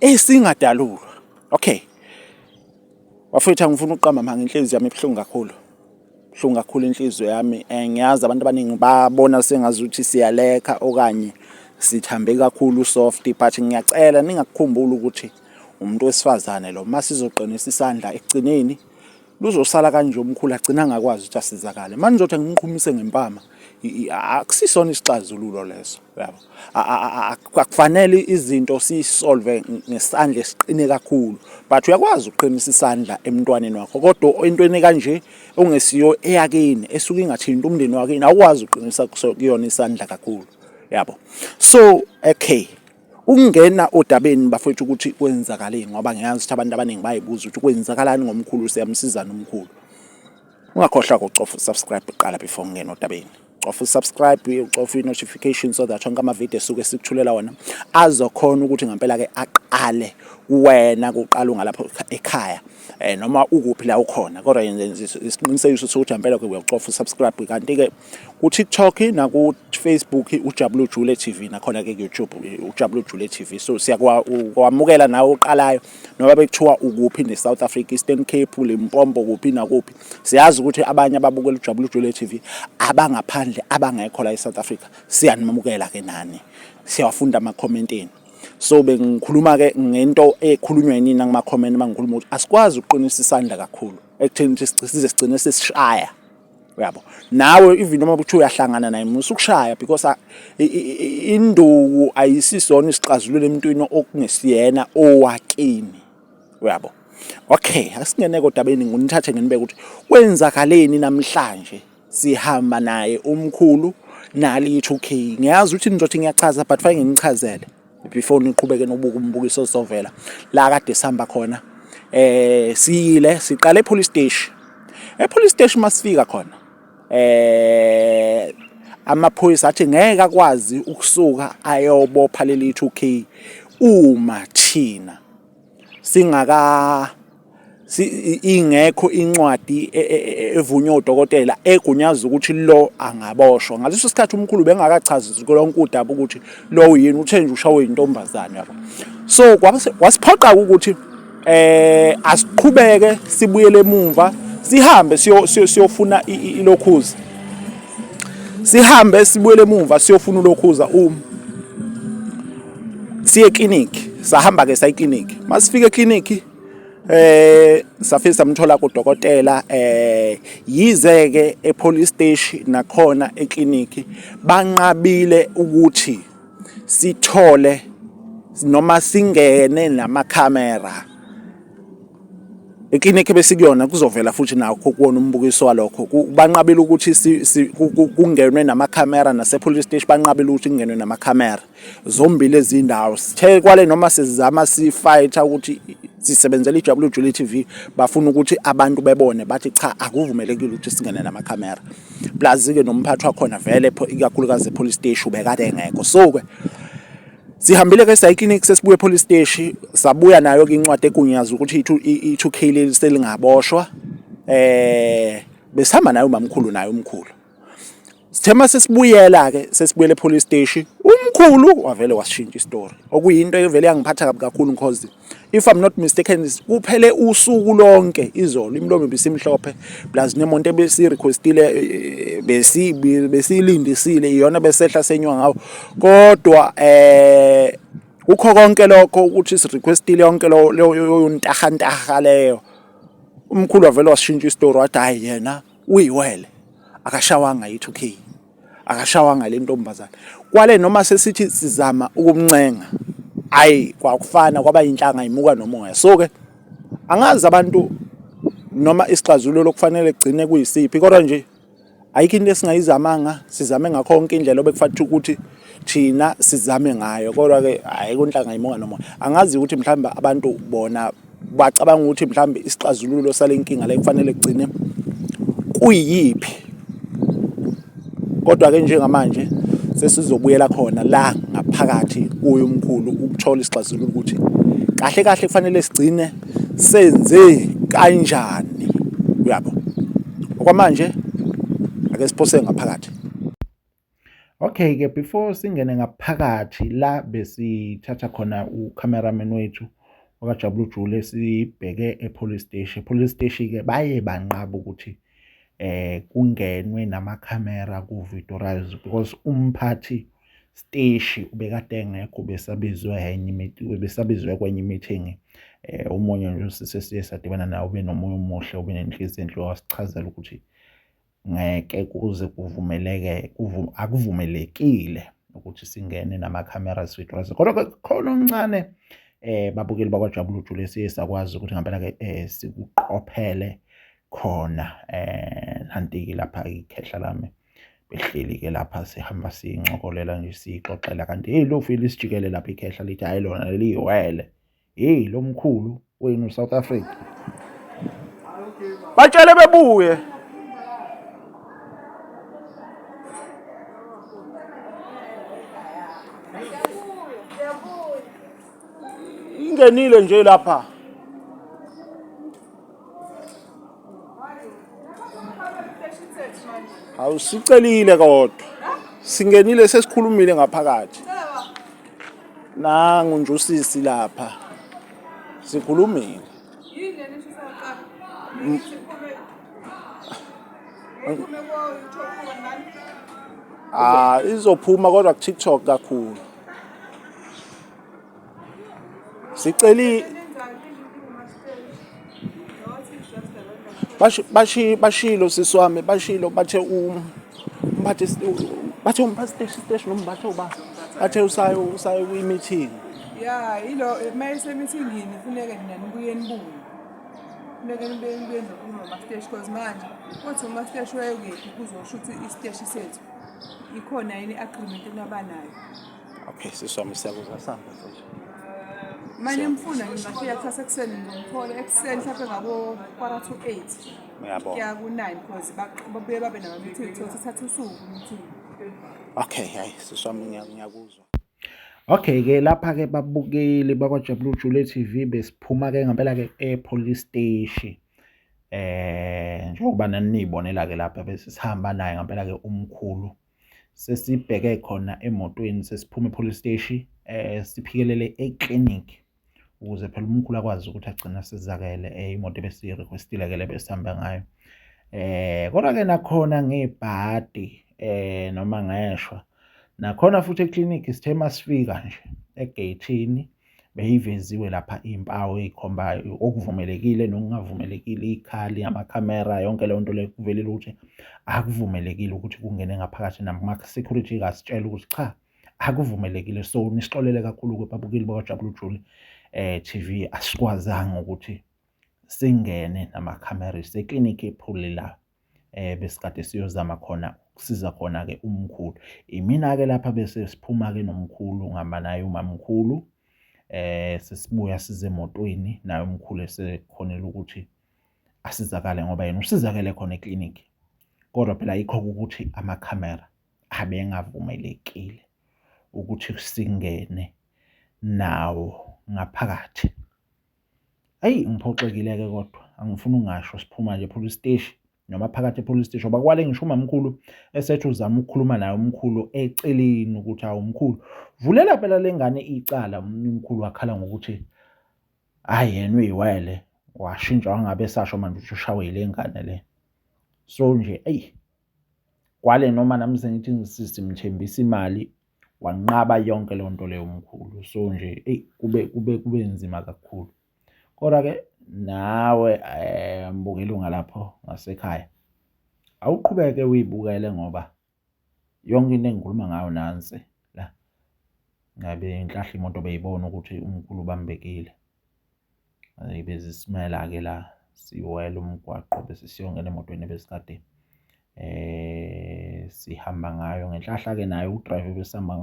esingadalulwa okay wafethu angifuni uqamba manga inhliziyo yami ebuhlungu kakhulu buhlungu kakhulu inhliziyo yami eh, ngiyazi abantu abaningi babona sengazi ukuthi siyalekha okanye sithambe kakhulu soft but ngiyacela ningakukhumbula ukuthi umuntu wesifazane lo masizoqinisa isandla ekugcineni luzosala kanje umkhulu agcina angakwazi ukuthi asizakale manje ngizothi angiqhumise ngempama akusisona isixazululo leso yabo akufanele izinto siyisolve ngesandla esiqine kakhulu but uyakwazi ukuqinisa isandla emntwaneni wakho kodwa entweni kanje ongesiyo eyakini esuke ingathinta umndeni wakini awukwazi ukuqinisa kuyona isandla kakhulu yabo so okay ukungena odabeni bafowethu ukuthi kwenzakaleni ngoba ngiyazi ukuthi abantu abaningi bayibuza ukuthi kwenzakalani ngomkhulu siyamsizana umkhulu ungakhohlwa kucofa usubscribe kuqala before ngingena odabeni cofa usubscribe ucofa i-notification so that onke amavidiyo esuke sikuthulela wona azokhona ukuthi ngempela-ke aqale kuwena kuqala ungalapho ekhaya um noma ukuphi la ukhona kodwa yenze isiqinisekiso sokuthi ngempela-ke uyakucofa usubscribe kanti-ke ku-tiktok naku-facebook ujabule ujule tv nakhona-ke ku-youtube ujabule ujule tv so siyakwamukela nawe oqalayo noba bekuthiwa ukuphi ne-south africa eastern cape limpompo kuphi nakuphi siyazi ukuthi abanye ababukela ujabule ujule tv abangaphandle abangekho la e-south africa siyanimamukela-ke nani siyawafunda amakhomenti enu so bengikhuluma ke ngento ekhulunywa yini ngama comment mangikhuluma ukuthi asikwazi ukuqinisa isandla kakhulu ekutheni size sigcine sesishaya uyabo nawe even uma kuthiwa uyahlangana naye musa ukushaya because induku ayisisona isixazululo emntwini okungesiyena owakini uyabo okay asingene kodwa beni nginithathe nginibeke ukuthi kwenzakaleni namhlanje sihamba naye umkhulu nali 2K ngiyazi ukuthi nizothi ngiyachaza but fanele nginichazele before niqhubeke nobuka umbukiso ozovela la kade sihamba khona eh siyile siqale epolice station epolice station masifika khona eh amaphoyisa athi ngeke akwazi ukusuka ayobopha leli 2K uma thina singaka ingekho incwadi e, e, e, evunywa udokotela egunyaza ukuthi lo angaboshwa ngaleso sikhathi umkhulu bengakachazi lonke udaba ukuthi lo yini uthe nje ushawe intombazane yabo so kwasiphoqa ukuthi eh asiqhubeke sibuyele emumva sihambe siyofuna ilokhuza sihambe sibuyele emumva siyofuna ulokhuza uma siye clinic sahamba ke sayi clinic masifike clinic eh safike samthola kudokotela eh yize ke e police station nakhona e clinic banqabile ukuthi sithole noma singene nama camera iklinikhi besikuyona kuzovela futhi nakho kuwona umbukiso walokho banqabile ukuthi kungenwe namakhamera nasepolice station banqabile ukuthi kungenwe namakhamera zombili ezindawo sithe kwale noma sizama sifighter ukuthi sisebenzela iWJL TV bafuna ukuthi abantu bebone bathi cha akuvumelekile ukuthi singene nama camera plus ke nomphathi wakhona vele ikakhulukazi police station ubekade engekho so ke sihambile ke sayi clinic sesibuye police station sabuya nayo ke incwadi egunyaza ukuthi i2K leli selingaboshwa eh besihamba nayo mamkhulu nayo umkhulu Sithema sesibuyela ke sesibuyele police station umkhulu wavele washintsha istory okuyinto evele yangiphatha kabi kakhulu because if i'm not mistaken kuphele usuku lonke izolo imlomo bisimhlophe plus nemonto ebesi requestile eh, eh, besi besilindisile iyona besehla senywa ngawo kodwa eh ukho konke lokho ukuthi si requestile yonke leyo ntaha ntaha leyo umkhulu wavele washintsha istory wathi hayi yena uyiwele akashawanga yi 2K akashawanga le ntombazane kwale noma sesithi sizama ukumncenga ayi kwakufana kwaba inhlanga imuka nomoya so ke angazi abantu noma isixazululo okufanele kugcine kuyisiphi kodwa nje ayikho into esingayizamanga sizame ngakho konke indlela obekufanele ukuthi thina sizame ngayo kodwa ke hayi kunhlanga imuka nomoya angazi ukuthi mhlawumbe abantu bona Bacabanga ukuthi mhlawumbe isixazululo sale nkinga le kufanele kugcine kuyiphi kodwa-ke njengamanje sesizobuyela khona la ngaphakathi kuye umkhulu ukuthola isixazululo ukuthi kahle kahle kufanele sigcine senze kanjani uyabo okwamanje ake siphose ngaphakathi Okay-ke before singene ngaphakathi la besithatha khona u-cameraman wethu wakajabula ujule sibheke e-police steshi e-police steshi-ke baye banqaba ukuthi eh kungenwe namakhamera ku-videorize because umphathi steshi ubekade engekho besabizwe enye besabizwe kwenye i-meeting eh umunye nje usise siye sadibana nawo benomunye umuhle obenenhliziyo enhle wasichazela ukuthi Ngeke kuze kuvumeleke akuvumelekile ukuthi singene nama-cameras withdrawals kodwa-ke khona okuncane eh babukeli bakwajabula ujule esiye sakwazi ukuthi ngempela-ke um sikuqophele khona um nanti-ke lapha ikhehla lami behleli-ke lapha sihamba sincokolela nje siyixoxela kanti eyi lofile isijikelele lapha ikhehla lithi hhayi lona leliyiwele. Hey lomkhulu wenu South Africa. Batshele bebuye. Ingenile nje lapha. awusicelile kodwa singenile sesikhulumile ngaphakathi nangu nje usisi lapha sikhulumile ah izophuma kodwa ku-tiktok kakhulu siceli bashi bashilo siswami bashilo bathe um bathe bathe umphasteshi steshi nombathe uba bathe usayo usayo kwi meeting ya ilo mayise meeting yini funeka nina nibuye nibuye funeka nibuye nibuye nokuma masteshi cause manje kothi umasteshi wayekephi kuzosho ukuthi isteshi sethu ikhona yini agreement enabanayo Okay, siswami siyakuza samba mfethu. Manje mfuna ngingafika kusasa ekuseni ngomthole ekuseni mhlawumbe ngabo quarter to 8. Uyabona. Kuya ku 9 because baq- babuye babe nama meeting so sithatha usuku meeting. Okay, hayi siswami ngiya- ngiyakuzwa. Okay ke lapha ke babukeli bakwaJabulile Jule TV besiphuma ke ngempela ke epolice station. Eh njengoba nanibonela ke lapha bese sihamba naye ngempela ke umkhulu sesibheke khona emotweni sesiphuma epolice steshi eh siphikelele eclinic ukuze phela umkhulu akwazi ukuthi agcine asizakele eh, imoto ebesiyirequestile ke lebesihamba ngayo eh kodwa ke nakhona ngebhadi eh noma ngeshwa nakhona futhi eclinic sithe masifika nje egeyithini eh, beyiveziwe lapha iy'mpawu ey'khombayo okuvumelekile nokungavumelekile iy'khali amakhamera yonke leyo nto leyo kuvelile ukuthi akuvumelekile ukuthi kungene ngaphakathi nama-security kasitshela ukuthi cha akuvumelekile so nisixolele kakhulu-ke babukeli bakajabulu juli um eh, tv asikwazanga ukuthi singene namakhamera iseklinikhi ephulile la eh besikade siyozama khona ukusiza khona-ke umkhulu. Imina-ke lapha bese siphuma-ke nomkhulu ngihamba naye umamkhulu eh sesibuya size emotweni naye umkhulu esekhonela ukuthi asizakale ngoba yena usizakele khona eclinic kodwa phela yikho ukuthi amakhamera abengavumelekile ukuthi singene nawo ngaphakathi. Ayi ngiphoxekile-ke kodwa angifuni ungasho siphuma nje police steshi noma phakathi e-police steshi ngoba kwale ngisho umamkhulu esethi uzama ukukhuluma naye umkhulu eceleni ukuthi hawu mkhulu vulela phela le ngane icala umkhulu wakhala ngokuthi hhayi yena uyiwele washintsha wangabe esasho manje ukuthi ushawe yile ngane le so nje eyi kwale noma nami sengithi ngisimthembisa imali wanqaba yonke leyo nto leyo mkhulu so nje eyi kube kube kube nzima kakhulu kodwa-ke nawe um mbukeli ungalapho ngasekhaya awuqhubeke uyibukele ngoba yonke into engikhuluma ngayo nansi la ngabe ngihlahla imoto beyibona ukuthi umkhulu ubambekile Hhayi bezisimela-ke la siwela umgwaqo bese siyongena emotweni ebesikade sihamba ngayo. Ngenhlahla-ke naye udrayiva ebesihamba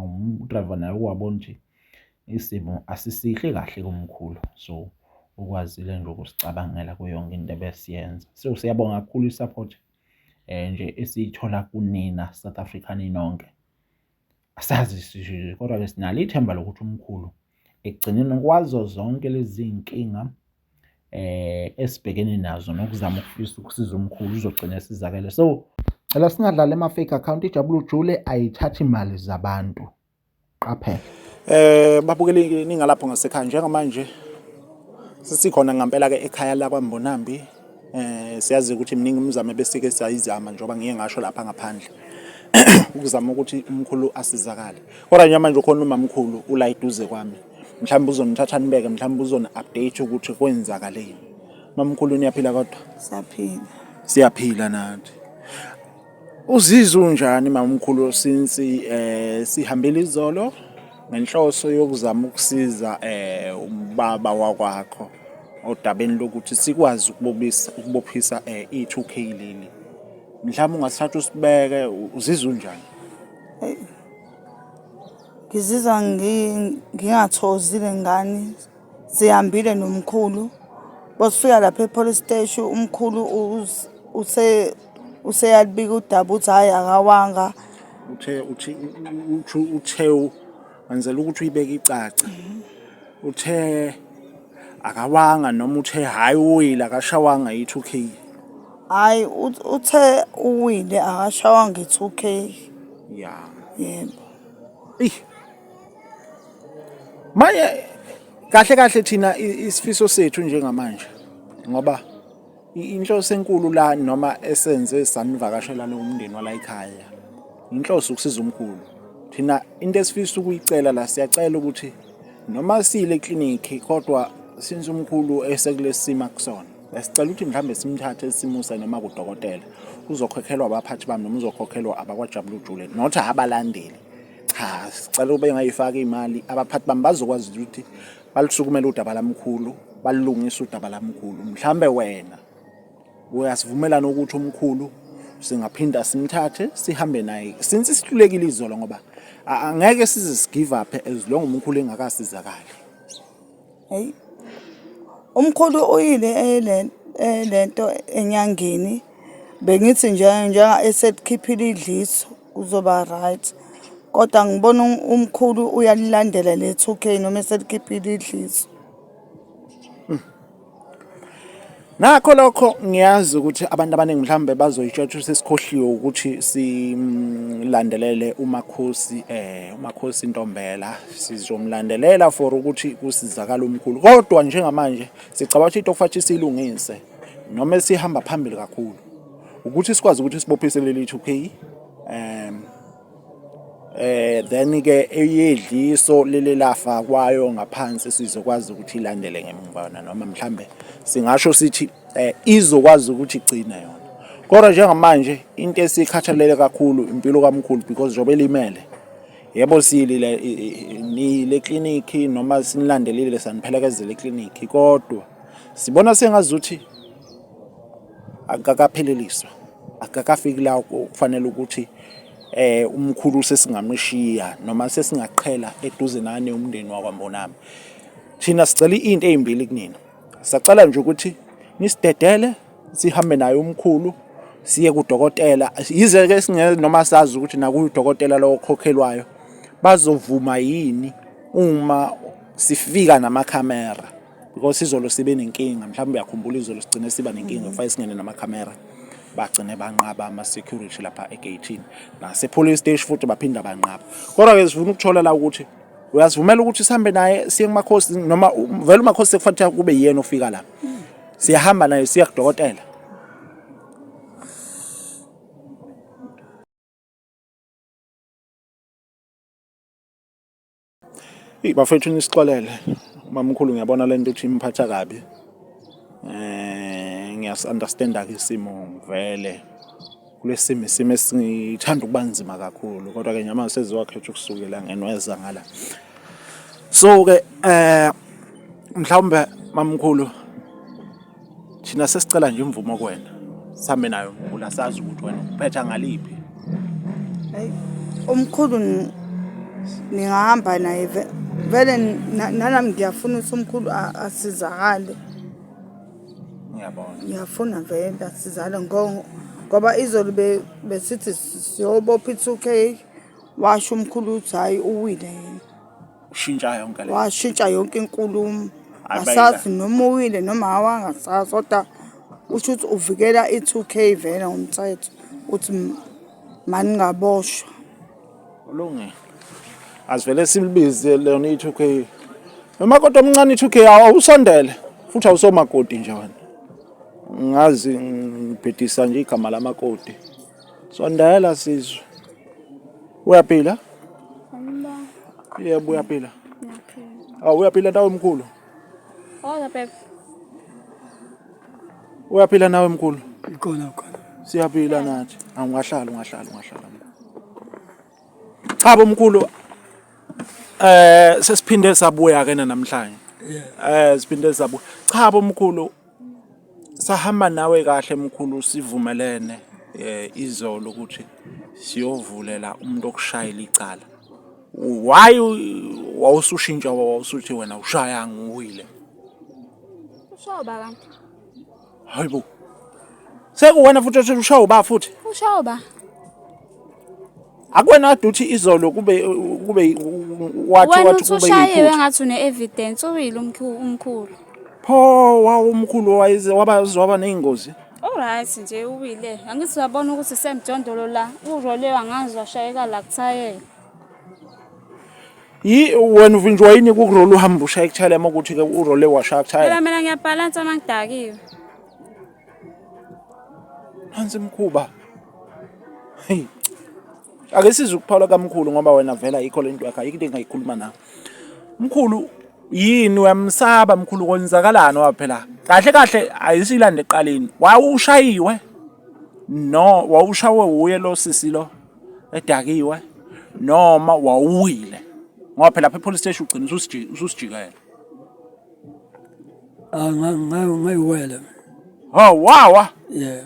udrayiva naye ukwabona nje isimo asisihle kahle kumkhulu so ukwazile nje ukusicabangela kuyo yonke into ebesiyenza. So siyabonga kakhulu i-support nje esiyithola kunina South Africa ninonke. Asazi sishilo kodwa-ke sinalo ithemba lokuthi umkhulu ekugcineni kwazo zonke lezi zinkinga eh esibhekene nazo nokuzama ukufisa ukusiza umkhulu uzogcina esizakele so cela singadlali ama fake account ijabula ujule ayithathi imali zabantu qaphela eh babukeli ningalapho ngasekhaya njengamanje sisikhona ngempela ke ekhaya lakwa Mbonambi Eh siyazi ukuthi miningi imizamo besike siyayizama njengoba ngiye ngasho lapha ngaphandle. Ukuzama ukuthi umkhulu asizakale. Kodwa nje manje ukhona umamkhulu ula eduze kwami. Mhlawumbe uzonithatha nibeke, mhlawumbe uzoni update ukuthi kwenzakaleni. Mamkhulu niyaphila kodwa? Siyaphila. Siyaphila nathi. Uzizwa unjani mamkhulu since eh sihambile izolo ngenhloso yokuzama ukusiza eh ubaba wakwakho odabeni lokuthi sikwazi ukubobisa ukubophisa eh i2K leli. Mhlawumbe ungasithatha usibeke uzizwa unjani? Ngizizwa ngi- ngingathozile ngani sihambile nomkhulu bosifika lapha e-police steshi umkhulu us- use useyalibika udaba uthi hhayi akawanga uthe uthi uthi uthewu wenzela ukuthi uyibeke icace uthe akawanga noma uthe hhayi uwile akashawanga yi-two k hhayi ut- uthe uwile akashawanga i-two k ya yebo Ih. Manje kahle kahle thina i- isifiso sethu njengamanje ngoba Inhloso enkulu la noma esenze sanivakashela nomndeni wala ekhaya inhloso ukusiza umkhulu thina into esifisa ukuyicela la siyacela ukuthi noma sile clinic kodwa since umkhulu esekulesima kusona sicela ukuthi mhlambe simthathe simuse noma kudokotela uzokhokhelwa abaphathi bami noma uzokhokhelwa abakwajabula ujule not abalandeli cha sicela ube ngayifaka imali abaphathi bami bazokwazi ukuthi balusukumela udaba lamkhulu balungisa udaba lamkhulu mhlambe wena uyasivumelana ukuthi umkhulu singaphinda simthathe sihambe naye since isihlulekile izolo ngoba angeke size sigive up as long umkhulu engakasizakali hey umkhulu uyile elento enyangeni bengithi nje njenga esetkhiphile idliso Kuzoba right. Kodwa ngibona um- umkhulu uyalilandela le 2K noma eselikhiphile idliso. Nakho lokho ngiyazi ukuthi abantu abaningi mhlawumbe bazoyitshotsha sesikhohliwe ukuthi silandelele uMakhosi eh uMakhosi Ntombela sizomlandelela for ukuthi kusizakala umkhulu kodwa njengamanje sicabanga ukuthi itofathi silungise noma esihamba phambili kakhulu ukuthi sikwazi ukuthi sibophise leli 2K um eh then ke eyedliso leli lafa kwayo ngaphansi sizokwazi ukuthi ilandele ngemva noma mhlambe singasho sithi eh, izokwazi ukuthi igcine yona kodwa njengamanje into esikhathalele kakhulu impilo kamkhulu because njengoba elimele yebo silile nile clinic noma sinilandelile saniphelekezele eclinic kodwa sibona sengazuthi akakapheleliswa akakafiki la kufanele ukuthi eh umkhulu sesingamshiya noma sesingaqhela eduze nane umndeni wakwaMbonami thina sicela into ezimbili kunina sacela nje ukuthi nisidedele sihambe naye umkhulu siye kudokotela yize ke singeke noma sazi ukuthi nakudokotela lowo khokhelwayo bazovuma yini uma sifika namakhamera because izolo sibe nenkinga mhlawumbe uyakhumbula izolo sigcine siba nenkinga kufanele singene namakhamera bagcine banqaba ama-security lapha egeyithini nasepolice station futhi baphinda banqaba kodwa-ke sifuna ukuthola la ukuthi uyasivumela ukuthi sihambe naye siye kumakhosi noma vele umakhosi sekufanele kube yiyena ofika la siyahamba naye siya kudokotela Hey bafethu nisixolele. Mamkhulu ngiyabona lento ukuthi imphatha kabi. Eh ngiyas understand ke isimo vele. Kulesimo isimo esithanda ukubanzima kakhulu kodwa ke nyama seziwakhetha ukusukela ngenweza ngala. So ke eh mhlawumbe mamkhulu Thina sesicela nje imvumo kuwena. Sihambe nayo mkhulu asazi ukuthi wena uphetha ngaliphi. Hayi umkhulu ni- ningahamba naye ve- vele na- nalami ngiyafuna ukuthi umkhulu a- asizakale Ngiyabona. ngiyafuna vele asizakale ngo- ngoba izolo be- besithi siyobopha i-two k washo umkhulu ukuthi hhayi uwile yena ushintsha yonke le washintsha yonke inkulumo asazi noma uwile noma awangasazi kodwa usho ukuthi uvikela i-two k vele ngomthetho ukuthi maningaboshwa ulungile asivele silibize lona i-two k noma kodwa omncane i-two k awusondele futhi awusomakoti nje wena ngazi ngibhedisa nje igama lamakoti Sondela sizwe. Uyaphila? Yebo uyaphila. Awu uyaphila nawe mkhulu. Hola Pep. Uyaphila nawe mkhulu? Ikhona khona. Siyaphila nathi. Angahlala ungahlala ungahlala. Cha bomkhulu eh sesiphinde sabuya ke namhlanje. Eh siphinde sabuya. Cha bomkhulu Sahamba nawe kahle mkhulu sivumelene eh, izolo ukuthi siyovulela umuntu okushayela icala why wawusushintsha wawusuthi wena ushaya ngiwile ushawa ba kanti hayibo sekuwena futhi othi ushawa ba futhi ushawa ba akwena kade uthi izolo kube kube wathi wena wathi uthi kube ushayiwe yikho ngathi une-evidence uwile umkhu- umkhulu pho wawumkhulu wayize waba waba neyingozi oryt nje uwile angithi uyabona ukuthi semjondolo la urolewe angazi washayeka la kuthayela yi wena uvinjwa yini kukurole uhamba ushaya kuthayela uma ukuthi ke urole washaya kuthayela phela mina ngiyabhalansa uma ngidakiwe Nansi imkhuba. Hey. Ake size ukuphawula kamkhulu ngoba wena vela ikho lento yakhe ayikho into engayikhuluma nawe. Mkhulu yini uyamsaba mkhulu konzakalani waphela? Kahle kahle ayisilande eqaleni. Wawushayiwe. No, wawushawe uye lo sisi lo edakiwe noma wawuwile ngoba phela lapha epolice station ugcina ususijikela Ah, nga- nga- ngayiwele Oh, wawa. yeah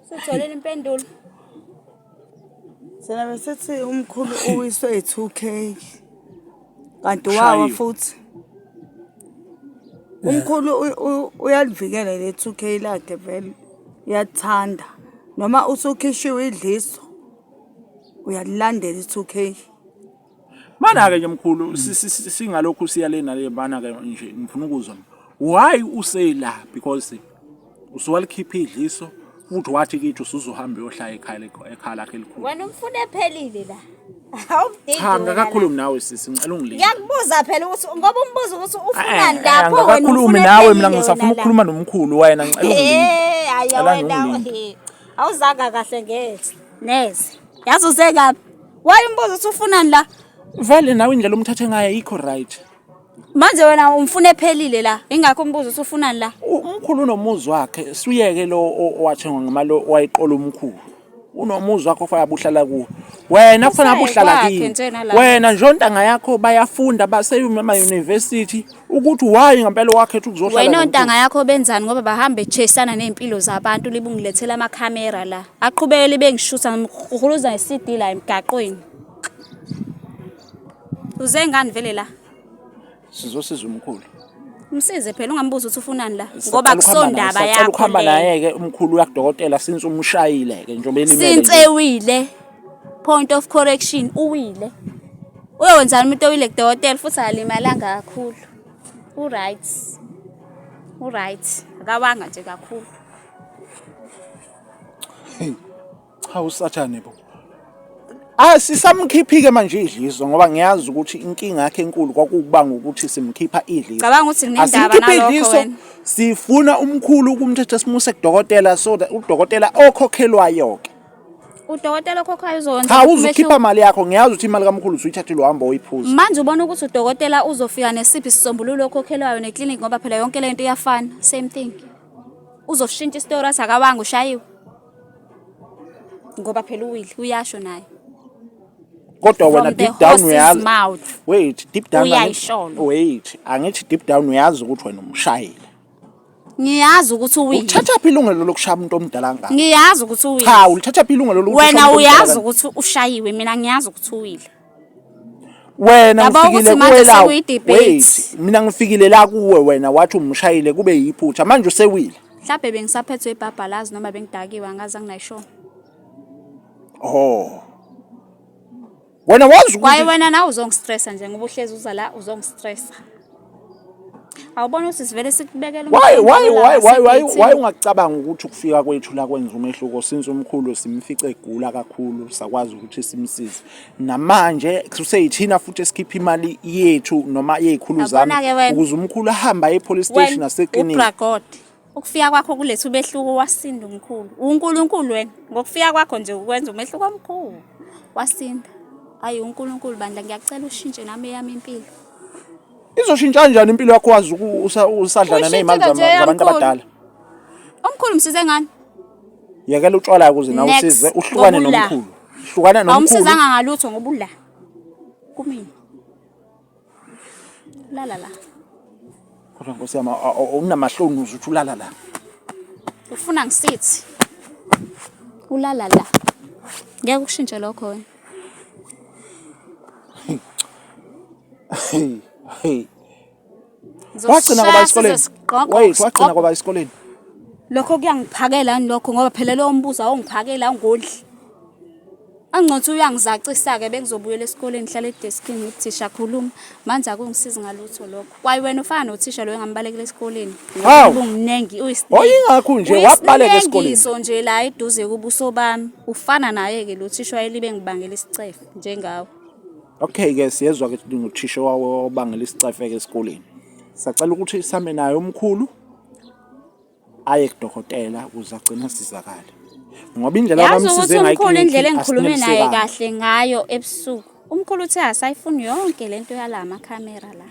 Sutholile impendulo. Thina besithi umkhulu uwiswe yi-2K. Kanti wawa Ushayiwe. futhi. Umkhulu u- u- uyalivikela le 2K lakhe vele. Uyathanda. Noma usukhishiwe idliso. Uyalilandela i-2K. Mana-ke nje mkhulu singalokhu siya le nale mana-ke nje ngifuna ukuzwa why useyila because usuwalikhipha idliso futhi wathi kithi usuzohamba uyohlala ekhaya ekhaya lakhe elikhulu wena umfuna ephelile la cha ngakakhulumi nawe sisi ngicela ungilinde ngiyakubuza phela ukuthi ngoba umbuzo ukuthi ufunani eh, eh, lapho wena ngakakhulumi nawe mina ngisafuna ukukhuluma nomkhulu wayena ngicela ungilinde eh, hayi wena awuzanga kahle ngezi neze yazi usekaphi waye umbuzo ukuthi ufunani la vele nawe indlela omthathe ngayo ayikho right manje wena umfuna ephelile la ingakho umbuzo ukuthi ufunani la U- umkhulu unomuzi wakhe suyeke lo o- owathengwa ngemali o- owayiqola umkhulu unomuzi wakhe ofanele abuhlala kuwo wena kufanele Usaye abuhlala kwakhe kini njena la. wena nje ontanga yakho bayafunda baseyuma emayunivesithi ukuthi why ngempela wakhetha ukuzohlala wena ontanga yakho benzani ngoba bahambe chasana nezimpilo zabantu libungilethela ama camera la aqhubeke libe ngishutha ngihuluza iCD la emgaqweni uze ngani vele la sizosiza umkhulu Msize phela ungambuza ukuthi ufunani la ngoba kusondaba yakho. Ukhamba naye ke umkhulu yakudokotela since umshayile ke njengoba elimele. Since ewile. Point of correction, uwile. Uyokwenzani umuntu owile kudokotela futhi akalimalanga kakhulu. U-right. U-right. Akawanga nje kakhulu. Hey, cha usathane bo. Ah sisamkhiphike manje idliso ngoba ngiyazi ukuthi inkinga yakhe enkulu kwakubanga ukuthi simkhipha idliso. Cabanga ukuthi nginendaba nalokho wena. Sifuna umkhulu ukumthetha simuse kudokotela so that udokotela okhokhelwayo ke. udokotela okhokhayo uzokwenza cha umehluko. uzukhipha mali yakho ngiyazi ukuthi imali kamkhulu usuyithathile uhamba oyiphuza manje ubona ukuthi udokotela uzofika nesiphi isisombululo okhokhelwayo neclinic ngoba phela yonke le nto iyafana same thing uzoshintsha isitori athi akawanga ushayiwe ngoba phela uwile uyasho naye kodwa wena From the deep down horse's uyazi mouth. wait deep down angithi- Uyayisholo. wait angithi deep down uyazi ukuthi wena umshayile ngiyazi ukuthi uwini uthatha phi ilungelo lokushaya umuntu omdala ngaka ngiyazi ukuthi uwini cha ulithatha phi ilungelo lokuthi wena uyazi ukuthi ushayiwe mina ngiyazi ukuthi uwile wena ngifikile kuwela wait mina ngifikile la kuwe wena wathi umshayile kube yiphutha manje usewile mhlawumbe bengisaphethwe ibhabhalazi noma bengidakiwe angazi anginayishona oh wena wazi kwaye ukuthi wena nawe uzongistressa nje ngoba uhlezi uza la uzongistressa awubona ukuthi sivele sikubekela why umqondo why la, why why why sikhithi. why ungacabanga ukuthi ukufika kwethu la kwenza umehluko since umkhulu simfice egula kakhulu sakwazi ukuthi simsize namanje kuseyithina futhi esikhipha imali yethu noma yezikhulu zami Yabona-ke wena. ukuze umkhulu ahambe aye epolice station Wena, naseklinika ubragod Ukufika kwakho kuletha umehluko wasinda umkhulu. UNkulunkulu wena ngokufika kwakho nje ukwenza umehluko omkhulu. Wasinda. Hayi uNkulunkulu bandla ngiyakucela ushintshe nami eyami impilo. Izoshintsha kanjani impilo yakho wazi usadlana nezimali zabantu abadala? Omkhulu msize ngani? Yekela utshwala ukuze nawe usize uhlukane nomkhulu. Hlukana nomkhulu. Awumsizanga ngalutho ngoba ula. Kumina. Lala la. Kodwa Nkosi yami unamahloni uze uthi ulala la. Ufuna ngisithi. Ulala la. Ngeke ukushintshe lokho wena. Hey. Hey. Wagcina kwaba esikoleni. Wait, wagcina kwaba esikoleni. Lokho kuyangiphakela lokho ngoba phela lo mbuzo awungiphakela awungondli. Angcothi uyangizacisa-ke bengizobuyela esikoleni ngihlale edeskini ngithi thisha khuluma manje akungisizi ngalutho lokho kwaye wena ufana nothisha loyo engambalekela esikoleni Hawu. ubumningi Wayengakho nje, wabaleka esikoleni. uyisinegiso nje la eduze kubuso bami ufana naye-ke lo thisha wayelibe ngibangela isicefe njengawe Okay ke siyezwa ke nguthisha wawo obangela isicefeke esikoleni. Sacela ukuthi same naye omkhulu. aye kudokotela ukuze agcine asizakale ngoba indlela yazi ukuthi umkhulu indlela engikhulume naye kahle ngayo ebusuku umkhulu uthe asayifuni yonke le nto yala makhamera la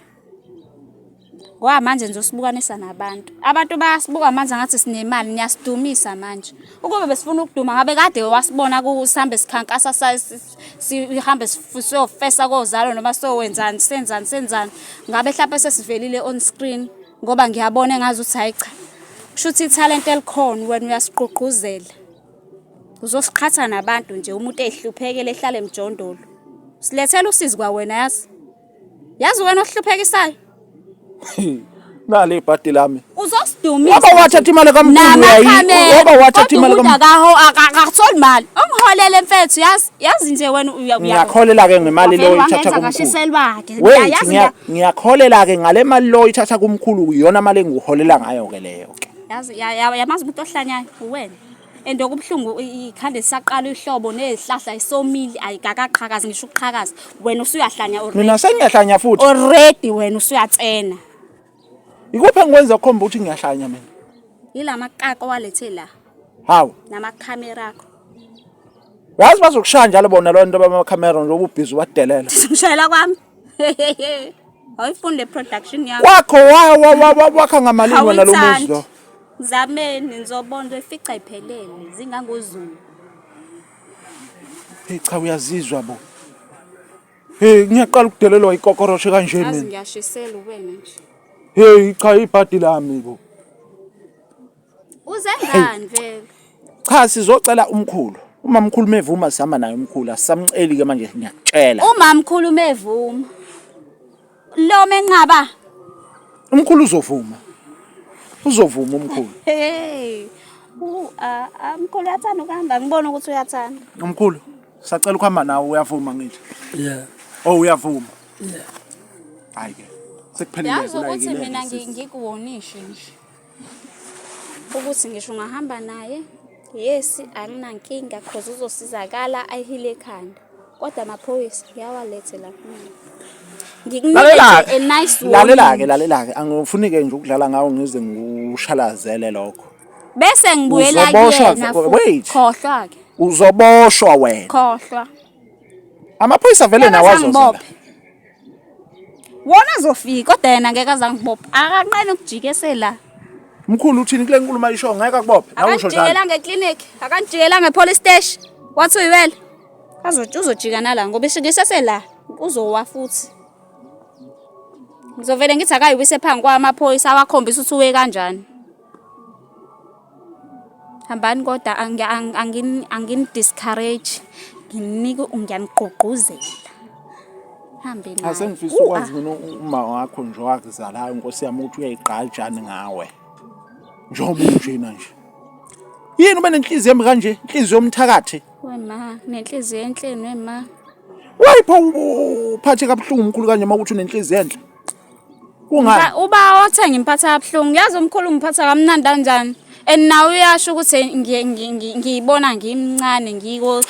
ngoba manje nje usibukanisa nabantu abantu bayasibuka manje ngathi sinemali niyasidumisa manje ukube besifuna ukuduma ngabe kade wasibona kusihambe sikhankasa sihambe siyofesa kozalo noma sowenzani senzani senzani ngabe mhlawumbe sesivelile on screen ngoba ngiyabona engazi ukuthi hayi cha kusho ukuthi ithalente elikhona wena uyasigqugquzela uzosiqhatha nabantu nje umuntu ehluphekele ehlale emjondolo silethela usizi kwa wena yazi yazi wena ohluphekisayo nale ibhadi lami uzosidumisa waba wathatha imali kamkhulu yayi waba wathatha imali kamkhulu akaho akakutholi imali ongiholele mfethu yazi yazi nje wena ngiyakholela ke ngemali leyo ithatha kumkhulu wait ngiyakholela ke ngale mali leyo ithatha kumkhulu iyona mali engiholela ngayo ke leyo ke yazi yamazi umuntu ohlanyayo uwena and okubuhlungu ikhanda lisaqala ihlobo nezihlahla isomile ayikakaqhakazi ngisho ukuqhakaza wena usuyahlanya already mina sengiyahlanya futhi already wena usuyatsena Ikuphi engikwenza khomba ukuthi ngiyahlanya mina? Yila maqaqa walethe la. Hawu. Nama camera akho. Wazi bazokushaya njalo bona lo nto bama camera nje ububhizi wadelela. Ngishayela kwami. Awuyifunde production yakho. Kwakho wa wa wa wakha ngamalini wena lo muzi lo. Zameni ngizobona ifica iphelele zingangozulu. Hey cha uyazizwa bo. Hey ngiyaqala ukudelelwa ikokoroshe kanje mina. Azi ngiyashisela uwena nje. Hey cha ibhadi lami bo. Uze ngani vele? Cha sizocela umkhulu. Uma mkhulu mevuma sihamba naye umkhulu asamceli ke manje ngiyakutshela. Uma mkhulu mevuma. Lo menqaba. Umkhulu uzovuma. Uzovuma umkhulu. Hey. U a umkhulu uyathanda ukuhamba ngibona ukuthi uyathanda. Umkhulu sacela ukuhamba nawe uyavuma ngithi. Yeah. Oh uyavuma. Yeah. Hayi ke. Sekuphelile kula yini. Yazi ukuthi mina ngikuwonishe nje. ukuthi ngisho ungahamba naye yes anginankinga cause uzosizakala ayihile ekhanda kodwa amaphoyisa uyawalethe la kumina ngikunike a nice lalela-ke lalela-ke angifuni-ke nje ukudlala ngawo ngize ngikushalazele lokho bese ngibuyela kuyena khohlwa-ke uzoboshwa wena khohlwa amaphoyisa vele nawazoza wona azofika kodwa yena ngeke azangibopha akanqeni ukujikesela mkhulu uthini kule nkulumo ayisho ngeke akubophe nawe usho njalo akajikela ngeclinic akajikela ngepolice station wathi uyiwela azothi uzojika nala ngoba ishikisese la uzowa futhi ngizovele ngithi akayiwise phambi kwamaphoyisa awakhombisa ukuthi uwe kanjani hambani kodwa angini-discourage nginike ngiyanigqugquzela hambe naye asengifisa ukwazi mina uma wakho nje wakuzalayo nkosi yami ukuthi uyayigqajani ngawe njengoba unjena nje yini ube nenhliziyo embi kanje inhliziyo yomthakathi wema nenhliziyo enhleni wema wayipha uphathe kabuhlungu umkhulu kanje uma ukuthi unenhliziyo enhle kungani uba othenga imphatha yabuhlungu yazi umkhulu ngiphatha kamnandi kanjani and nawe uyasho ukuthi ngiyibona ngimncane ngiko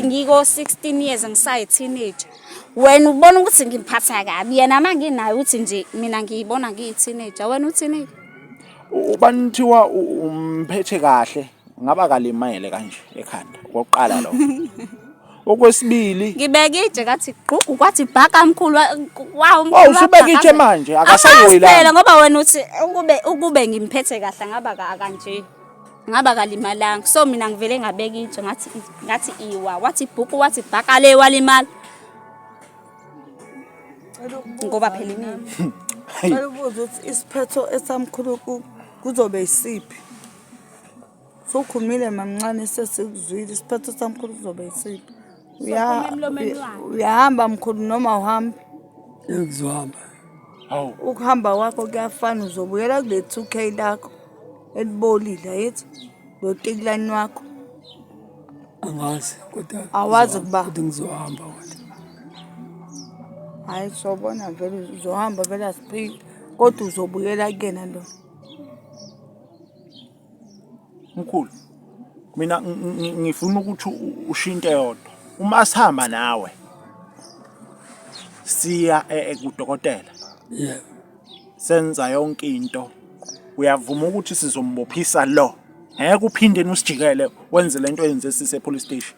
ngiko-16 years ngisayi-teenage wena ubona ukuthi ngimphatha kabi yena ma nginayo ukuthi nje mina ngiyibona ngiyi-teenager wena u-teenager ubani kuthiwa umphethe kahle ngaba kalimele kanje ekhanda kokuqala lo okwesibili ngibeke itshe kathi gqugu kwathi bhaka mkhulu wawu mkhulu usubeka itshe manje akasayoyi la ngoba wena uthi ukube ukube ngimphethe kahle ngaba kanje ngaba kalimalanga so mina ngivele ngabeka itshe ngathi ngathi iwa wathi bhuku wathi bhaka le walimala ngoba phela imini Ngicela ukuthi isiphetho esamkhulu kuzobe isiphi? Sokhumile mamncane sesikuzwile isiphetho samkhulu kuzobe isiphi. Uya- uya- Uyahamba mkhulu noma uhambe. Ngizohamba. Hawu. Ukuhamba kwakho kuyafana uzobuyela kule 2K lakho elibolile yithi lo tikulani wakho. Angazi kodwa. Awazi ukuba. Kodwa ngizohamba kodwa. Hayi sobona vele uzohamba vele asiphili kodwa uzobuyela kuyena lo. Mkhulu mina ngifuna ukuthi ushiye into eyodwa uma sihamba nawe siya e, e, kudokotela senza yonke into uyavuma ukuthi sizombophisa lo ngeke uphinde usijikele wenze lento yenze sise police station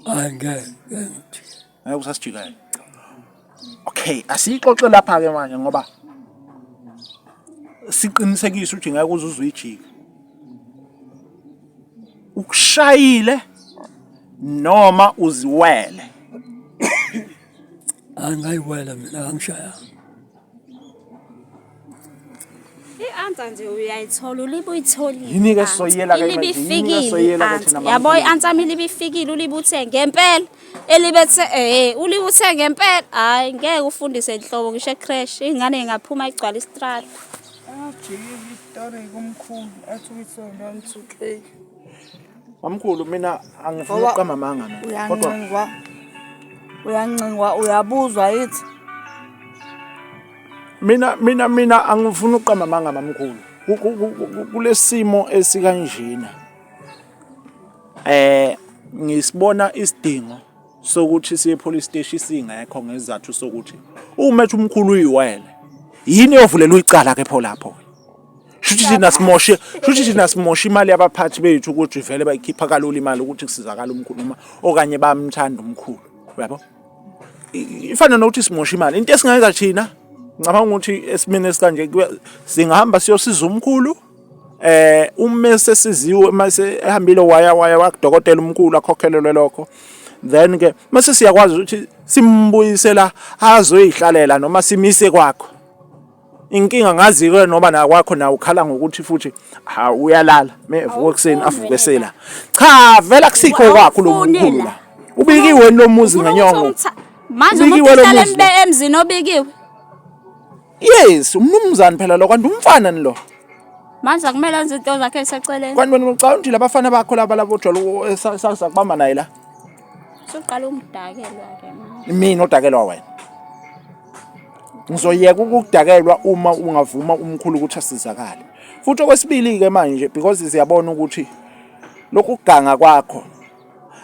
angeke ngeke usasijikela okay asiyixoxe lapha ke manje ngoba siqinisekise ukuthi ngeke uze uzuyijike ukushayile noma uziwele angayiwela mina angishaya i-answer nje uyayithola ulibe uyitholile Yini-ke i-answer. soyela-ke manje? Ilibe Yini-ke ifikile soyela-ke i-answer. thina yabo maNtuli? i-answer yami ilibe ifikile ulibe uthe ngempela elibethe eh ulibe uthe ngempela hayi ngeke ufundise nhlobo ngisho ecrash ingane ingaphuma igcwala istrata Ajike istory kumkhulu athi uyisonto angisukeki. Mamkhulu mina angifuni Ngoba- ukuqamba amanga mina. Kodwa uyancingwa uyancingwa uyabuzwa yithi mina mina mina angifuni ukuqamba amanga mamkhulu. Ku- ku- ku- ku- Kulesimo esikanjena. Eh ngisibona isidingo sokuthi siye police station singekho ngezathu sokuthi uma ethi umkhulu uyiwele yini eyovulela uyicala ke pho lapho. shuthi thina simoshe shuthi thina simoshe imali yabaphathi bethu ukuthi vele bayikhipha kalula imali ukuthi kusizakala umkhulu noma okanye bamthanda umkhulu uyabo ifana nokuthi simoshe imali into esingayenza thina ngicabanga ukuthi esimene esikanje singahamba siyosiza umkhulu eh uma sesiziwe mase ehambile waya waya wakudokotela umkhulu akhokhelelwe lokho then ke mase siyakwazi ukuthi simbuyisela azoyihlalela noma simise kwakho inkinga ngazi-ke noma nakwakho nawe ukhala ngokuthi futhi ha uyalala mevuka ekuseni avuke sela cha vele akusikho kwakho lo mkhulu la ubikiwe lo muzi ngenyongo manje umuntu uhlala emzini obikiwe yes umnumzane phela lo kanti umfana ni lo manje akumele enze into zakhe eseceleni kanti wena ucabanga ukuthi labafana bakho laba labo jolo esakubamba naye la Soqala ukudakelwa ke manje. Mina odakelwa wena. Ngizoyeka ukudakelwa uma ungavuma umkhulu ukuthi asizakale. Futhi okwesibili ke manje because siyabona ukuthi lokhu kuganga kwakho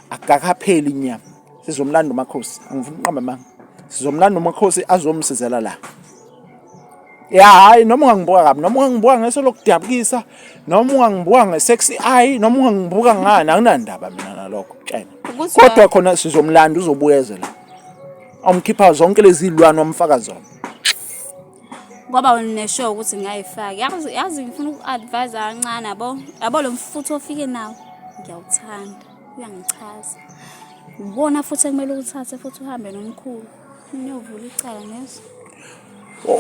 akakapheli inyama. Sizomlanda umakhosi. Angifuni uqamba manga. Sizomlanda umakhosi azomsizela la. ya hayi noma ungangibuka kabi noma ungangibuka ngeso lokudabukisa noma ungangibuka nge-sexy eye noma ungangibuka ngani akunandaba mina nalokho tshena kodwa khona sizomlanda uzobuyezela awumkhipha zonke lezi zilwane wamfaka zona ngoba wena uneshow ukuthi ngingayifaki yazi yazi ngifuna uku-advise kancane yabo yabo lo mfutho ofike nawo ngiyawuthanda uyangichaza ubona futhi ekumele uwuthathe futhi uhambe nomkhulu Niyovula icala ngezo.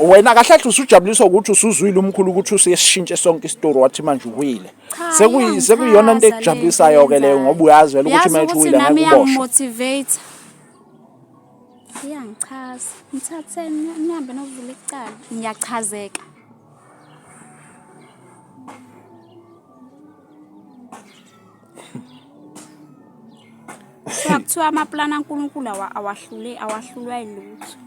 Wena kahle kahle usujabuliswa ukuthi usuzwile umkhulu ukuthi usiyesishintshe sonke isitori wathi manje uwile. Cha, Sekuyi iyangithaza sekuyiyona into le ekujabulisayo ke leyo ngoba uyazi vele ukuthi Yazi manje ukuthi uwile ngeke nami uboshwe. iyangi-motivate. Iyangichaza. Ngithathe ni- nihambe novula icala. Ngiyachazeka. Kuthiwa kuthiwa amapulani aNkulunkulu awa- awahlule awahlulwa ilutho.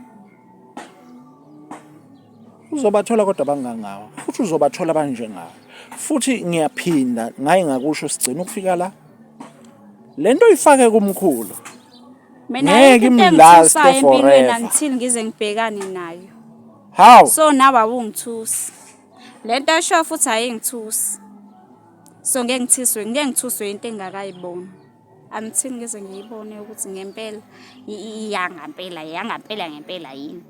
uzobathola kodwa bangangawe futhi uzobathola banjengawe futhi ngiyaphinda ngaye ngakusho sigcina ukufika la le nto uyifake kumkhulu Mina Ngeke into imlaste engithusayo empilweni forever. until ngize ngibhekane nayo. hawu So nawe awungithusi. Lento esho futhi ayingithusi. so ngeke ngithiswe ngeke ngithuswe into engakayiboni angithini ngeze ngiyibone ukuthi ngempela iyangampela yangampela ngempela yini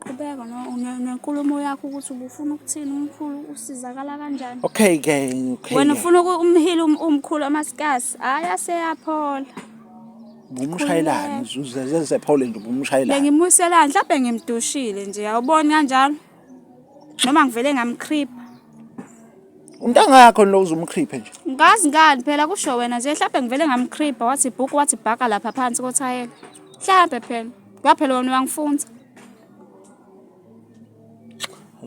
qhubeka nenkulumo yakho ukuthi ubufuna ukuthini umkhulu usizakala kanjani okay ke okay wena ufuna umhili um-, umkhulu amasikasi hayi aseyaphola ngumshayelani uzezephole nje ubumshayelani bengimuselani mhlawumbe ngimdushile nje awuboni kanjalo noma ngivele ngamkhripa umntanga yakho lo uzumkhripe nje ngazi ngani phela kusho wena nje mhlawumbe ngivele ngamkhripa wathi bhuku wathi bhaka lapha phansi kothayela mhlawumbe phela kwaphela wena wangifunza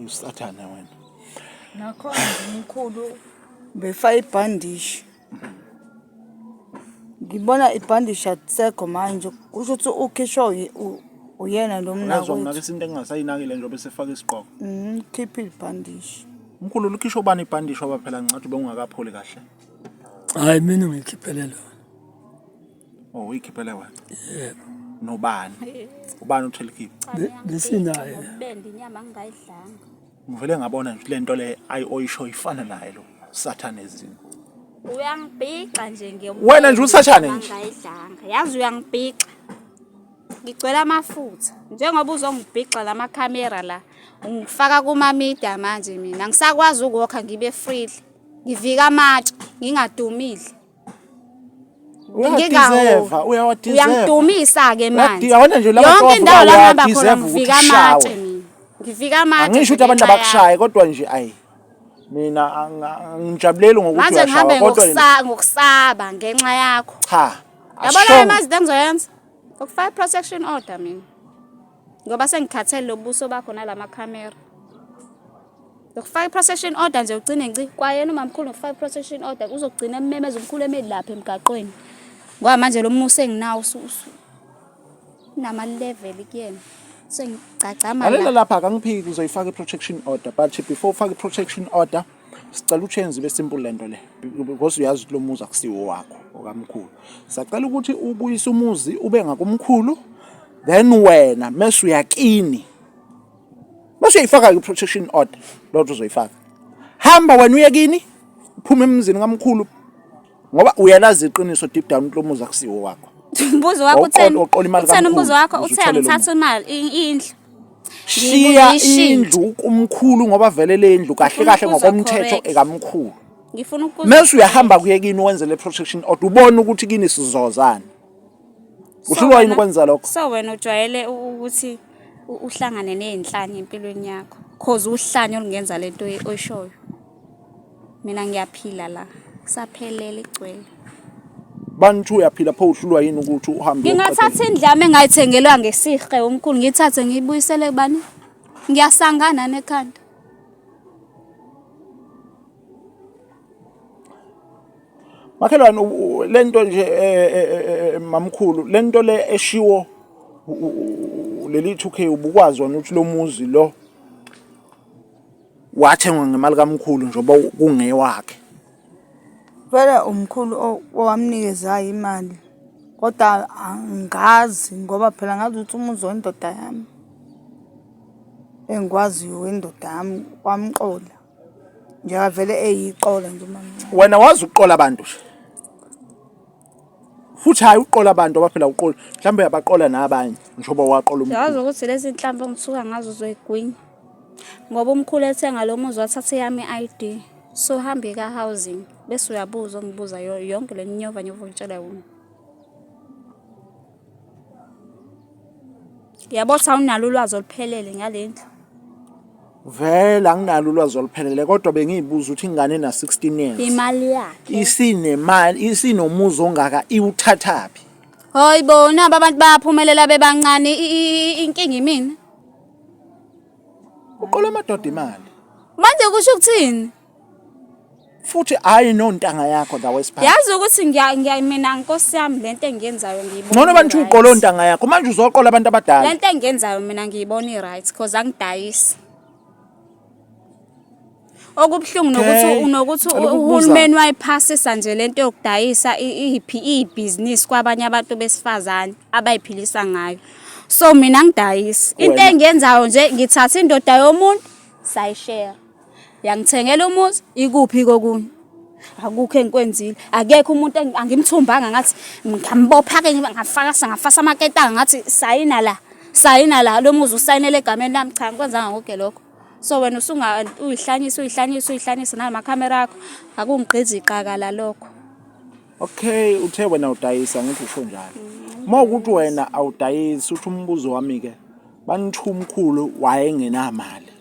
usathane wena nakhona umkhulu befa ibhandishi ngibona ibhandi shatisekho manje kusho ukuthi ukhishwa uyena lo mnakwethu isinto engingasayinakile njengoba esefaka isigqoko mhm khipha ibhandishi mkhulu likhishwa ubani ibhandishi oba phela ngicathi ubengungakapholi kahle hayi mina ngikhiphele lona oh uyikhiphele wena yebo nobani ubani uthelikhipha besinaye bende inyama ngingayidlanga ngivele ngabona nje lento le ayi oyisho ifana naye lo sathane ezini uyangibhixa nje nge wena nje usathane nje ngayidlanga yazi uyangibhixa ngigcwele amafutha njengoba uzongibhixa la makhamera la ungifaka kumamida manje mina ngisakwazi ukuwokha ngibe freely ngivika amatshe ngingadumile Uyadeserve, uyawadeserve. Uyangidumisa ke manje. Yabona nje laba Yonke indawo la ngihamba khona ngifika amatshe mina. Ngifika amatshe. Angisho ukuthi abantu abakushaye kodwa nje ayi. Mina angijabuleli ngokuthi uyashawa kodwa manje ngihambe ngokusaba ngenxa yakho. Cha. Yabona imazide engizoyenza. Ngokufaka protection order mina. ngoba sengikhathele lobuso bakho nalama camera ngokufaka i-procession order nje ugcine nci kwayena umamkhulu ngokufaka i-procession order uzogcina ememeza umkhulu emeli lapha emgaqweni ngoba manje lo musa enginawo unama-level kuyena sengigcagcama lapha akangiphiki uzoyifaka i-protection order but before ufake i-protection order sicela uchenze ibe simple lento le because uyazi ukuthi lo muzi akusiwo wakho okamkhulu sacela ukuthi ubuyise umuzi ube ngakumkhulu then wena mase uyakini mase uyifaka i protection order lotho uzoyifaka hamba wena uyekini phuma emzini kamkhulu ngoba uyalazi iqiniso deep down ukuthi lo muzi akusiwo wakho umbuzo wakho utheni utheni umbuzo wakho uthe angithatha imali indlu shiya indlu kumkhulu ngoba vele le ndlu kahle kahle ngokomthetho ekamkhulu ngifuna ukuza mase uyahamba kuye kini wenze le protection order ubone ukuthi kini sizozana usuka yini ukwenza lokho so wena ujwayele ukuthi uhlangane nezinhlanya empilweni yakho cause uhlanya olungenza lento oyishoyo Mina ngiyaphila la. Saphelele igcwele. Bantu uyaphila pho uhlulwa yini ukuthi uhambe. Ngingathatha indlame engayithengelwa ngesihle umkhulu ngithathe ngiyibuyisele kubani? Ngiyasangana nekhanda. Makhelwane lento nje e, e, e, mamkhulu lento le eshiwo leli 2K ubukwazi wona ukuthi lo muzi lo wathengwa ngemali kamkhulu njengoba kungewakhe vele umkhulu owamnikezayo imali kodwa angazi ngoba phela ngazi ukuthi umuzi wendoda yami engikwaziyo wendoda yami wamqola njengoba vele eyiqola nje umamncane wena wazi ukuqola abantu nje futhi hhayi uqola abantu abaphela uqola mhlawumbe uyabaqola nabanye njengoba waqola umkhulu yazi ukuthi lezi nhlampe ngisuka ngazo zoyigwinya ngoba umkhulu ethenga lo muzi wathatha eyami i-id so hambe ka-housing bese uyabuza ongibuza yonke le nyova nyova ongitshela yona Yabo cha unalo ulwazi oluphelele ngale ndlu. Vele anginalo ulwazi oluphelele kodwa bengiyibuza ukuthi ingane ena 16 years. Imali yakhe. Isinemali, isinomuzi ongaka iwuthathaphi. Hoyi bo nabo abantu bayaphumelela bebancane i- i- i- inkinga imina. Uqola amadoda imali. Manje kusho ukuthini? futhi hayi nontanga yakho la wesiphathi yazi ukuthi ngiya ngiya mina nkosi yami lento engiyenzayo ngiyibona ngcono abantu uqola ontanga yakho manje uzoqola abantu abadala lento engiyenzayo mina ngiyibona i-right cause angidayisi okubuhlungu nokuthi unokuthi uhulumeni wayiphasisa nje lento yokudayisa iphi ibhizinisi kwabanye abantu besifazane abayiphilisa ngayo so mina ngidayisi into engiyenzayo nje ngithatha indoda yomuntu sayishare yangithengela umuzi ikuphi kokunye akukho engikwenzile akekho umuntu angimthumbanga ngathi ngambopha ke ngafaka ngafasa amaketanga ngathi sayina la sayina la lo muzi usayinele egameni lami cha ngikwenzanga konke lokho so wena usunga uyihlanyisa uyihlanyisa uyihlanyisa nalamakhamera akho akungigqizi iqakala lokho okay uthe wena udayisa ngithi usho njalo uma ukuthi wena awudayisi uthi umbuzo wami-ke banithu umkhulu wayengenamali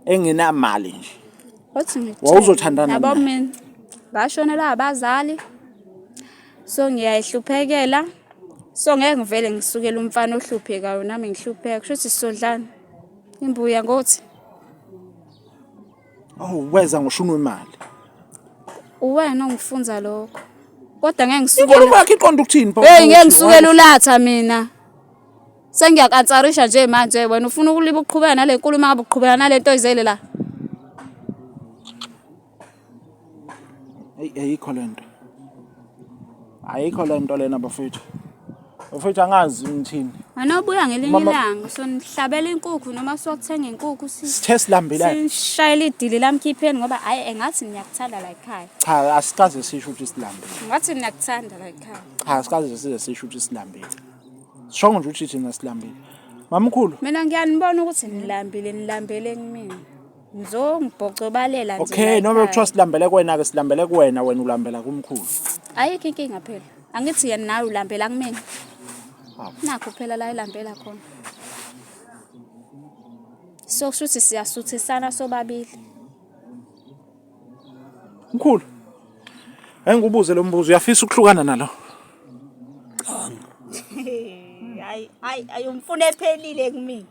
engenamali nje wathi ngikuthini? Wawuzothandana yabo naye? mina ngashonela abazali so ngiyayihluphekela so ngeke ngivele ngisukele umfana ohluphekayo nami ngihlupheka kusho ukuthi sizodlana imbuya ngothi awu weza ngoshuni wemali uwena ongifunza lokho kodwa ngeke inkulumo ngisukele yakhe iqonda ukuthini Paul? heyi ngeke ngisukele ulatha mina Sengiyakansarisha nje manje wena ufuna ukuliba uqhubeka nale nkulu uma ngabe uqhubeka nale nto izele la. Eyi ayikho le nto. Ayikho le nto lena bafethu. Bafethu angazi ngithini. Anobuya ngelinye Mama- ilanga sonihlabela inkukhu noma sokuthenga inkukhu si Sithe silambela. sishayela idili lamkhipheni ngoba hayi engathi niyakuthanda la ekhaya. Cha asikaze sisho ukuthi silambile. Ngathi niyakuthanda la ekhaya. Cha asikaze size sisho ukuthi silambile. Shongo nje uthi thina silambile. Mamkhulu. Mina ngiyanibona ukuthi nilambile nilambele kumina. Ngizongibhocobalela nje. Okay, noma kuthiwa silambele kwena ke silambele kuwena wena ulambela kumkhulu. Ayikho inkinga phela. Angithi yena nawe ulambela kumina. Nakho phela la ilambela khona. So kushuthi siyasuthisana sobabili. Mkhulu. Hayi ngikubuze lo mbuzo uyafisa ukuhlukana nalo? Hayi hayi ayumfuna ephelile kumina.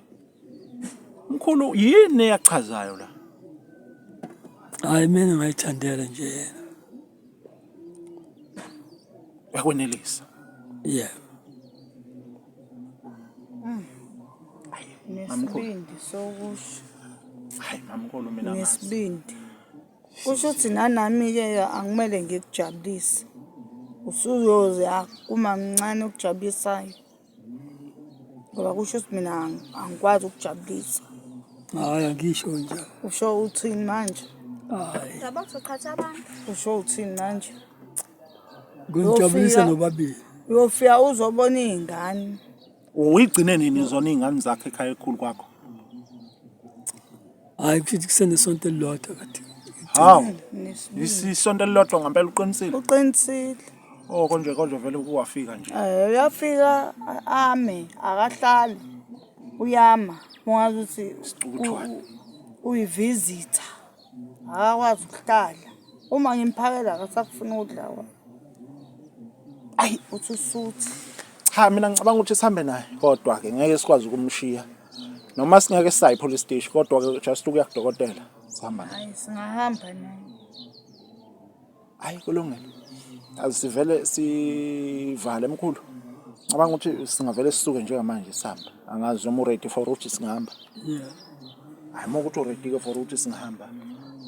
Mkhulu yini eyachazayo la? Hayi mina ngayithandela nje yena. Yakwenelisa. Yeah. Mm. Nesibindi sokusho. Hayi mamkhulu mina ngazi. Nesibindi. Kusho ukuthi nanami-ke angimele ngikujabulise. Usuyoze akuma mncane okujabulisayo. Ngoba kusho ukuthi mina ang- angikwazi ukujabulisa. Hayi angisho njalo. Usho uthini manje? Hayi. Usho uthini manje? Nginijabulise Uyofika- nobabili. uyofika uzobona iy'ngane uyigcine nini zona iy'ngane zakho ekhaya elikhulu kwakho Hayi kushuthi kusenesonto elilodwa kade. hawu Nesibili. isisonto elilodwa ngampela uqinisile uqinisile o konje konje vele kuwafika nje Eh, uyafika a- ame akahlali uyama ungazi ukuthi Isicukutshwane. u- u- uyivizitha Akakwazi ukuhlala. Uma ngimphakela akasakufuni ukudla kwami. Ayi uthi usuthi. Cha mina ngicabanga ukuthi sihambe naye kodwa ke ngeke sikwazi ukumshiya. Noma singeke sisayi police station kodwa ke just ukuya kudokotela sihamba naye. Hayi singahamba naye. hayi kulungile azisivele sivale mkhulu cabanga ukuthi singavele sisuke njengamanje sihamba angazi noma uready for ukuthi singahamba hayi uma ukuthi uready-ke for ukuthi singahamba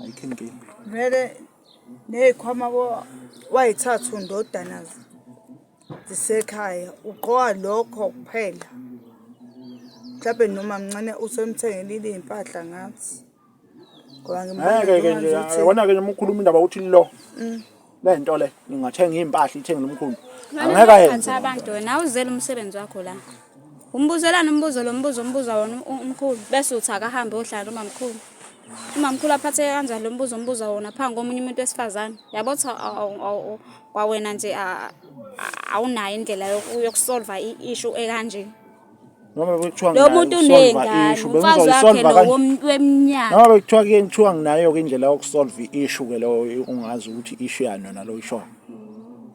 ayikho inkinga vele ney'khwama wayithathu ndodana zisekhaya ugqoka lokho kuphela mhlawumbe noma mncane usemthengele iy'mpahla ngathi ngeke-ke nje yabona-ke noma ukhuluma indaba uthi lo mm. le nto le ngingathenga iy'mpahla ithenge nomkhulu angeke ayenze abantu wena awuzele umsebenzi wakho la umbuzelani umbuzo lo mbuzo ombuza wona umkhulu bese uthi akahambe ohlala umamkhulu umamkhulu aphatheke kanjani lo mbuzo ombuza wona phambi komunye umuntu wesifazane yabo ukuthi kwawena nje awunayo indlela yokusolva i-ishu ekanje noma bekuthiwa lo muntu uney'ngane umfazi wakhe lowo weminyaka noma bekuthiwa kuye kuthiwa nginayo-ke indlela yokusolve i-issue ke leyo ungazi ukuthi i-issue yani yona lo ishoyo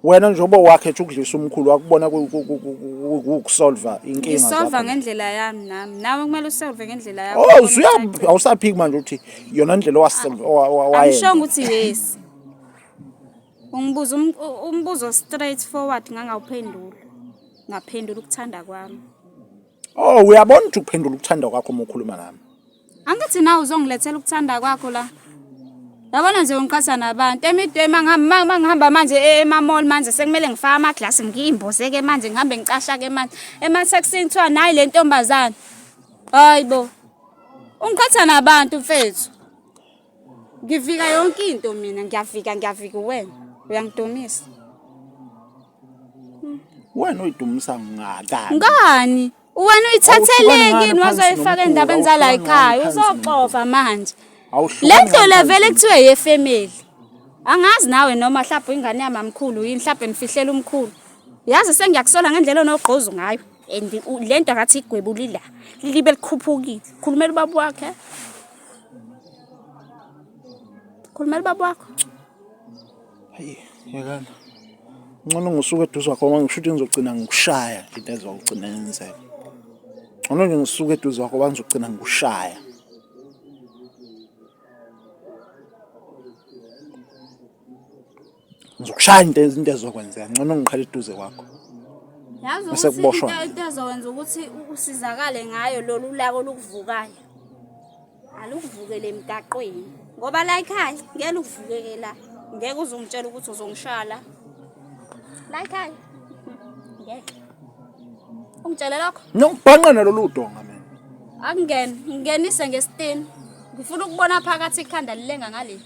wena njengoba wakhe ethi ukudlisa umkhulu wakubona ukusolva inkinga ngisolva ngendlela yami nami nawe kumele usolve ngendlela yakho oh usuya awusaphiki manje ukuthi yona indlela owasolve owayenza angishongo ukuthi yes Ungibuza um, umbuzo straight forward ngangawuphendula. Ngaphendula ukuthanda kwami. Oh uyabona ukuthi ukuphendula ukuthanda kwakho uma ukhuluma nami. Angithi na uzongilethela ukuthanda kwakho la. Yabona nje ungiqhatha nabantu emidwema ngihamba ngihamba manje e, emamall manje sekumele ngifake ama glass ngiyimboze ke manje ngihambe ngicasha ke manje ema taxini kuthiwa nayi le ntombazana. Hayibo. Ungiqhatha nabantu mfethu. ngivika yonke into mina ngiyavika ngiyavika uwena uyangidumisa wena uyidumisa ngakani ngani wena uyithatheleki yini wazoyifaka endabeni zala ekhaya uzoxova manje le ndlo le vele kuthiwe yefemeli angazi nawe noma mhlawumbe ingane yamamkhulu yini mhlawumbe nifihlela umkhulu yazi sengiyakusola ngendlela onogqozu ngayo and le nto akathi igwebulila libe likhuphukile khulumela ubaba wakhe Khulumela ubaba wakho. Hayi, yekana. Ngcono ngisuke eduze kwakho ngoba ngisho ukuthi ngizogcina ngikushaya nje into ezogcina yenzeka. Ngcono nje ngisuke eduze kwakho ngoba ngizogcina ngikushaya. Ngizokushaya into into ezokwenzeka ngcono ngiqhele eduze kwakho. Yazi Bese ukuthi kuboshwa. into into ezokwenza ukuthi usizakale ngayo lolu lako lukuvukayo. Alukuvukele emgaqweni. Ngoba la ekhaya ngeke lukuvukeke la. Ngeke uzongitshela ukuthi uzongishaya la. La ekhaya. Ngeke. Ungitshele lokho? Nokubhanqa nalolu donga mina. Akungeni, ngingenise ngesitini. Ngifuna ukubona phakathi ikhanda lilenga ngaleli.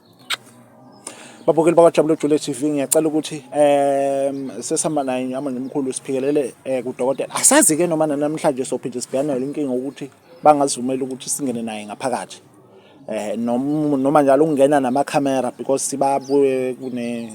babukeli bakwaJabule Jule TV ngiyacela ukuthi um sesihamba naye nyama nomkhulu siphikelele um kudokotela asazi-ke noma nanamhlanje sophinde sibhekane nale nkinga ukuthi bangazivumeli ukuthi singene naye ngaphakathi um noma njalo ukungena namakhamera because sibabuye kune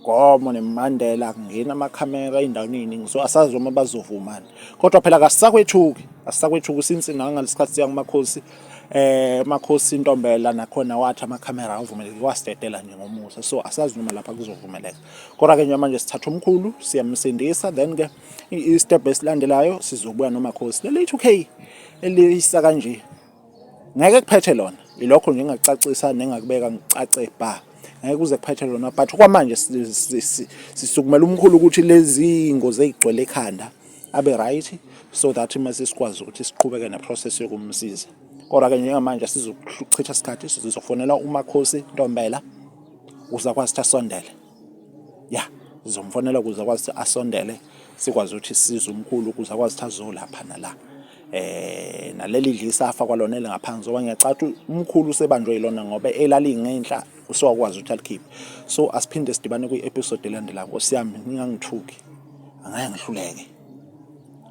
Gomo neMandela kungena amakhamera endaweni eyiningi so asazi uma bazovumana kodwa phela kasisakwethuki asisakwethuki since nangaleskhathi siya kumakhosi eh makhosi intombela nakhona wathi amakhamera avumeleke kwasidedela nje ngomusa so asazi noma lapha kuzovumeleka kodwa ke manje sithatha umkhulu siyamsindisa then ke i-step esilandelayo sizobuya nomakhosi leli 2k eliyisa kanje ngeke kuphethe lona ilokho nje engacacisa nengakubeka ngicace bha ngeke kuze kuphethe lona but kwamanje sisukumela umkhulu ukuthi lezi ngozi ezigcwele ekhanda abe right so that mase sikwazi ukuthi siqhubeke neprocess yokumsiza kodwa ke njengamanje sizochitha isikhathi sizofonela umakhosi ntombela uzakwazi ukuthi asondele ya ngizomfonela ukuze akwazi ukuthi asondele sikwazi ukuthi size umkhulu ukuze akwazi ukuthi azolapha nala eh naleli dlisafa kwalona elingaphansi ngoba ngiyacatha umkhulu usebanjwe yilona ngoba elalingenhla usewakwazi ukuthi alikhiphe so asiphinde sidibane kwi-episode elandelayo nkosi yami ngingangithuki angeke ngihluleke